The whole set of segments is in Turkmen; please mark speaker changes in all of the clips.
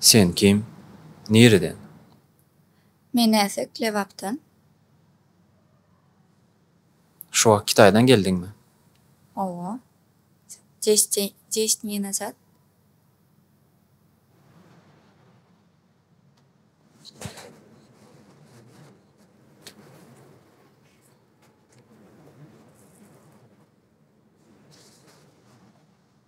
Speaker 1: Sen kim? Nireden? Men Näsek, Lebapdan. Şu wagt Kitaýdan geldiňmi? Hawa. Jeş dine zat.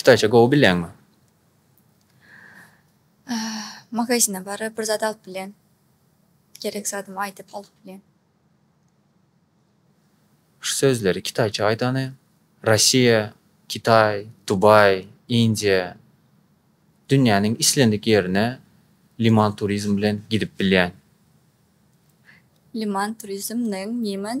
Speaker 1: Kitayça gowy bilýäňmi? Magazine baryp bir zat alyp bilýän. Gerek zadymy aýdyp alyp bilýän. Şu sözleri kitayça aýdany Rossiýa, Kitaý, Dubaý, Indiýa, dünýäniň islendik ýerine Liman turizm bilen gidip bilýän. Liman turizm nyň Niman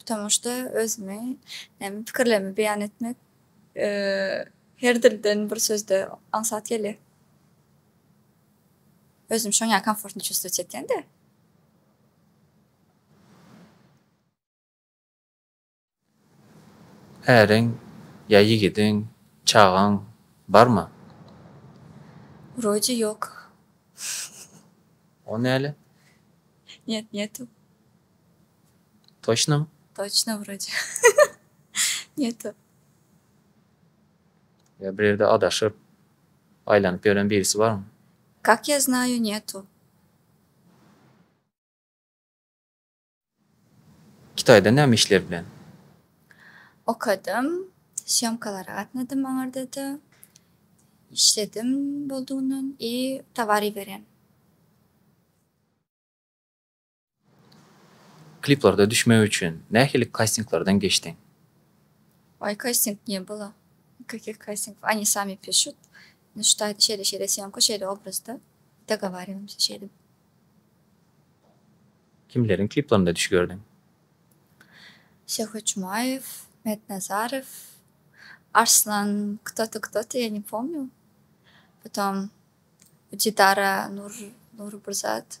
Speaker 1: Bu tomaşada özümi hem pikirlerimi beýan etmek her dilden bir sözde aňsat gelýär. Özümi şoň ýaly komfortno çuwstwowat etýän-de. Äriň ýa ýigidiň, çagaň barmy? Wroje ýok. O näle? Net, netu. Toçno. Toçno wroce. Ne to. Ýa bir ýerde adaşyp, aýlanyp ýören birisi barmy? Kak ýa znaýu ne to. Kitaýda näme işler bilen? Okadym, sýomkalara gatnadym aňardada. Işledim boldugyny i towar iberen. Kliplarda düşmek üçin nähili kastinglardan geçdiň? Oý kasting ne bola nikakih kastingov oni sami pişut ну şut aýdy şeýle şeýle sýomka şeýle obrazda dogowariwamyza şeýdip. Kimleriň kliplerinde düş gördüň? Şöhrat Jumaýew, Mehmet Nazarow, Arslan kto to kto to ýa ne pomnýu. Potom Didara Nury bir zat.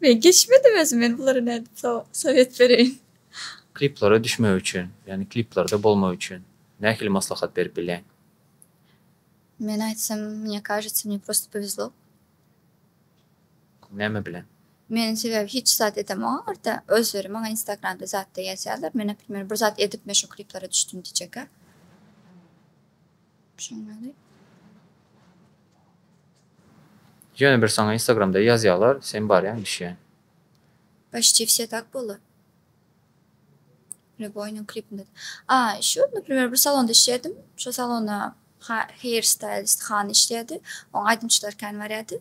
Speaker 1: Men geçmedim özüm men bulara nädip sowet bereýin. Kliplere düşmek üçin ýagny kliplerde bolmak üçin nähili maslahat berip bilýäň? Men aýtsam mne kažetsa mne prosto povezlo. Näme bilen? Men sebäbi hiç zat edemogam arta özleri maňa instagramda zatda ýazýarlar men naprimer bir zat edip men şo kliplere düşdüm diýjekka. Ýöne bir saňa instagramda ýazýalar sen barýaň düşýäň. Poçti wse tak bolar. Reboynyň klipinde de. A şu naprimer bir salonda işleýärdim. Şo salona ha hair stylist hany işleýärdi. Oň aýdymçylary kän barýardy.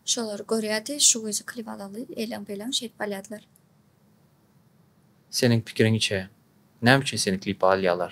Speaker 1: Şolary görýärdi. Şu gyzy klip alaly eleň beleň şeýdip alýardylar. Seniň pikiriňçe näme üçin seni klipa alýalar?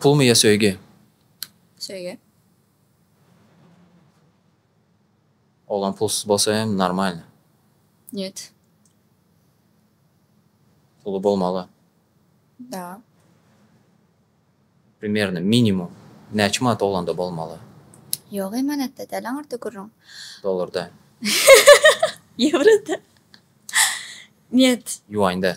Speaker 1: Pulmy ýa söýgi? Söýgi. Oglan pulsuz bolsa hem normalny. Nýet. Puly bolmaly. Da. Primerno, minimum. Näçe manat oglanda bolmaly? Ýok eý manatda däl aňyrda gürrüň. Dollarda. Ýewroda. Nýet. Ýuaňda.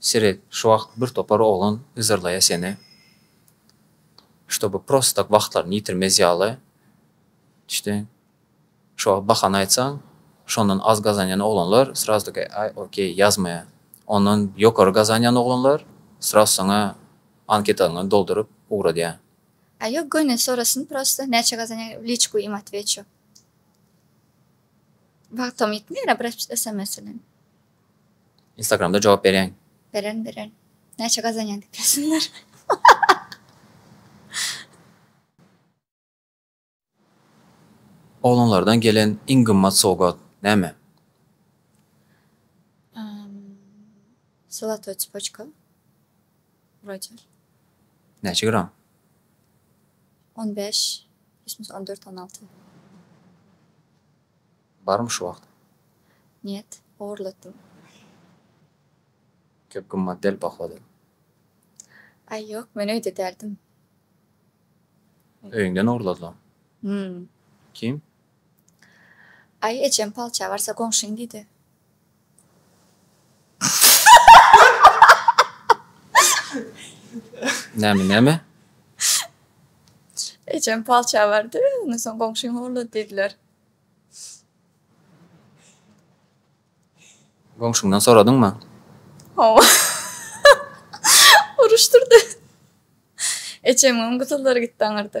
Speaker 1: Şirik, şu wagt bir topar oglan yzarlaýa seni, ştoby prosta tak wagtlaryny ýitirmez ýaly, düşdüň? Şu wagt bahana aýtsaň, şondan az gazanýan oglanlar srazu taka aý, okey, ýazmaýa. Ondan ýokary gazanýan oglanlar srazu saňa anketalaňy dolduryp ugradýa. A ýok göni sorasyn prosta näçe gazanýaň w liçku im atweçu. Wagtam ýetmeýär a bir sms bilen. Instagramda jogap berýäň. Beren beren. Näçe gazanýaň diýip ýazsynlar. Oglanlardan gelen iň gymmat sowgat näme? Zolotoý tspoçka, Roger. Näçe gram? On bäş, ýesmese on dört, on alty. Barmy şu wagt? Njet, ogurlatdym. Köp gymmat däl, baho däl. Aý, ýok, men öýde däldim. Öýüňden ogurladylar. Hum. Kim? Aý, ejem palça barsa goňşyň diýdi. Näme, näme? Ejem palça bardy, ondan soň goňşyň ogurlady diýdiler. Goňşyňdan soradyňmy? Hawa. Uruşdyrdy. Eçemiňem gysyllary gitdi aňyrda.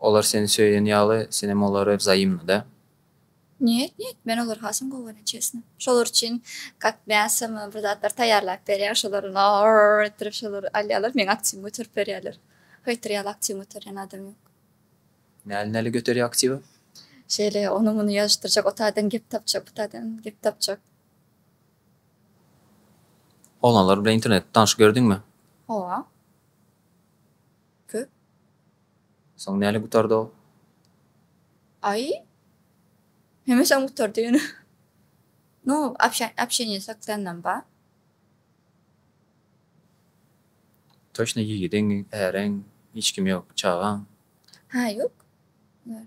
Speaker 1: Olar seni söýen ýaly, sen hem olary wzaýymna-da. Njet, njet, men olary hasam gowy görýän, çesna. Şolar üçin kak mäsomy, bir zatlar taýýarlap berýän, şolar na-a-a-a-a etdirip, şolar alýarlar, meň aktiwimi göterip berýärler. Haýtyr ýaly aktiwini göterýän adam ýok. Näli, näli göterýär aktiwi? Şeýle, ony-muny ýazyşdyrjak, o taýdan gep tapjak, bu taýdan gep tapjak. Oglanlar bilen internetde tanyşyp ýördiňmi? Hawa. Köp. Soň näle gutardy ol? Aý. Hemişem gutardy ýöne. Nu, apşa, apşeniýe saklanam ba. Toçna ýigidiň, äriň, hiç kim ýok, çagaň? Hä, ýok. Bar.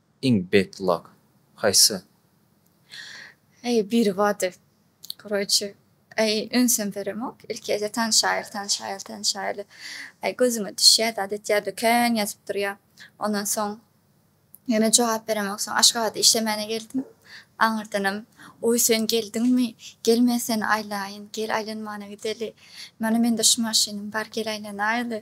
Speaker 1: Iň bad luck haýsy? Eý biri bady koroçe eý ünsem beremok ilkije tanyşaýyl tanyşaýyl tanyşaýyl eý gözüňe düşýä zat etýä döken ýazyp durýa ondan soň ýöne jogap beremok soň aşgabada işlemäne geldim aňyrdanam oý sen geldiňmi gel men seni aýlaýyn gel aýlanmana gideli mana mende şu maşynym bar gel aýlanaýyly.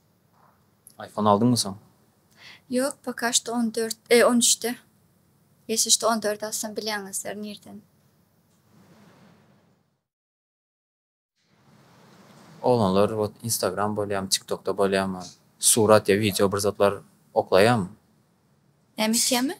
Speaker 1: Aýfon aldyňmy soň? Ýok poka şto on dört e on üçde Geçdi şto on dört alsam bilýäňizdir nirden. Oglanlar bot instagram bolýamy tiktokda bolýamy surat ýa wideo bir zatlar oklaýamy. Näme isýämi?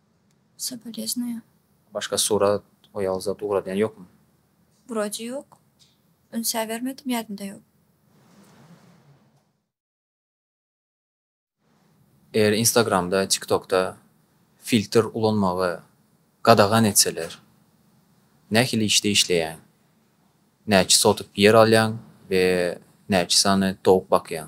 Speaker 1: Soboleznuýa. Başga surat oýal zat ugradýan ýokmy. Wrode ýok. Ünsä bermedim ýadymda ýok. Eger instagramda tiktokda filtr ulanmagy gadagan etseler nähili işde işleýäň? Näçe sotyk ýer alýaň we näçe sany towuk bakýaň?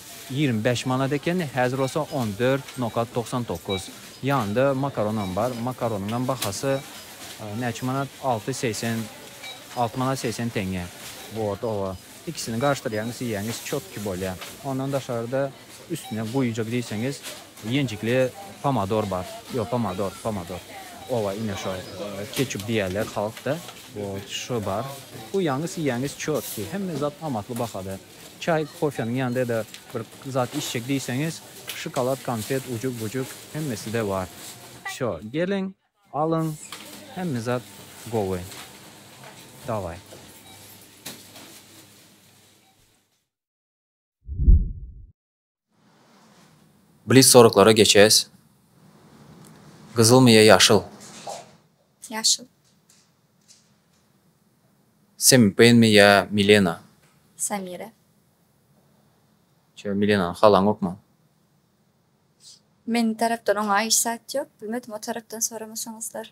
Speaker 1: Ýigrimi bäş manat ekeni, häzir bolsa on dört nokat togsan dokuz. Ýanynda makaronam bar. Makaronyňam bahasy näçe manat? Alty segsen, alty manat segsen teňňe. Wot, oba. Ikisini garyşdyrýaňyz, iýýäňiz, çotki bolýar. Ondan daşarda üstüne guýujak diýseňiz, ýenjikli pomodor bar. Ýok, pomodor, pomodor. Oba, ine şo, keçup diýýärler halkda. Wot, şu bar. Guýýaňyz, iýýäňiz, çotki. Hemme zat amatly bahada. Çaý, kofeniň ýanynda ýa-da bir zat içjek diýseňiz, şokolad, konfet, ujug-bujuk hemmesi-de bar. Şo, geliň, alyň, hemme zat gowy. Daway. Blitz soraglara geçýäs. Gyzylmy ýa ýaşyl? Ýaşyl. Semi Peýnmi ýa Milena? Samira. Şeýle Milenany halaňokmy? Meniň tarapdan oňa hiç zat ýok. Bilmedim o tarapdan soramasaňyzlar.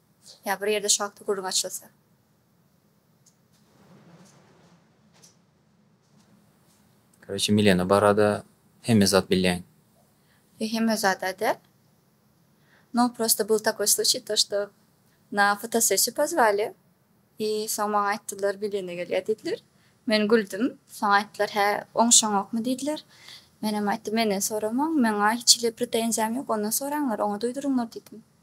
Speaker 1: Ýa bir ýerde şu hakda gürrüň açylsa. Korotçe Milena barada hemme zat bilýän. Ýa hemme zada däl. No prosta bul takoý sluçiý to što na fotosessiýu pozwali i soň maňa aýtdylar Milena gelýä diýdiler. Men güldüm. Soň aýtdylar hä oňşaňokmy diýdiler. Menem aýtdym menden soramaň meňa hiç hili pretenziýam ýok ondan soraňlar oňa duýduryňlar diýdim.